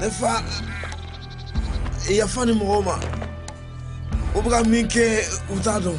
ne fa yafa nin mɔgɔw ma u bɛ ka min kɛ u t'a dɔn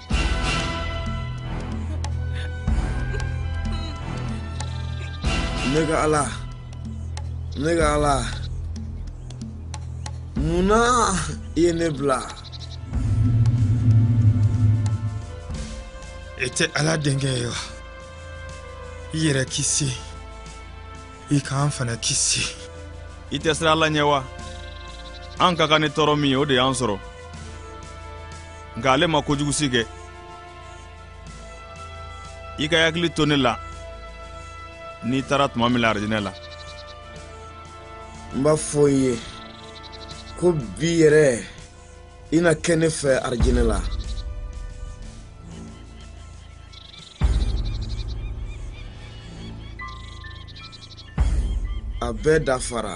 ne ka ala ne ka ala mun na i ye ne bila e tɛ ala denkɛ ye wa i yɛrɛ kisi i k'an fana kisi i tɛ siran ala ɲɛ wa an ka kan ni tɔɔrɔ min ye o de y'an sɔrɔ nka ale ma kojugu si kɛ i ka i hakili to ne la n'i taara tuma min na arijinɛ la n b'a fɔ i ye ko bi yɛrɛ i na kɛ ne fɛ arijinɛ la a bɛɛ dafara